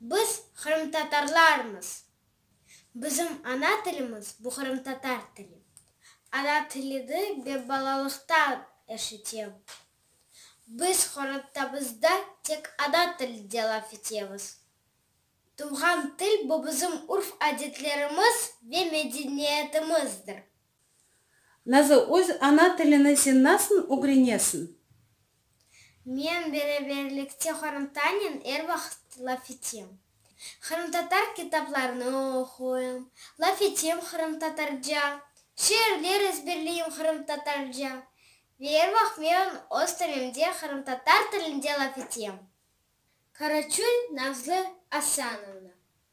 Biz qırımtatarlarmız. Bizim ana tilimiz bu qırımtatar tili. Ana tilidi be balalıqtan eşitem. Biz qorantamızda tek ana tilide laf etemiz. Tuvğan til bu bizim urf-adetlerimiz ve medeniyetimizdir. Nazı, öz ana tilini sen nasıl ögrenesiñ? Men beraberlikte qorımtanen er vaqıt laf etem. Qırımtatar kitaplarını oquyım, laf etem qırımtatarca, şiirler ezberleyim qırımtatarca ve er vaqıt men öz tölemde qırımtatar tilinde laf etem. Karaçul Nazlı Asanovna.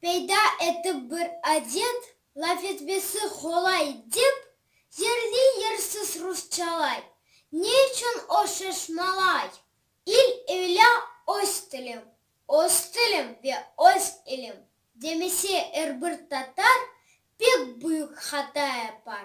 Peyda etip bir adet, laf etmesi qolay dep, yerli-yersiz rusçalay. Ne içün o şaşmalay? İl öyle öz tilim, öz tilim ve öz ilim demese er bir tatar pek büyük hata yapar.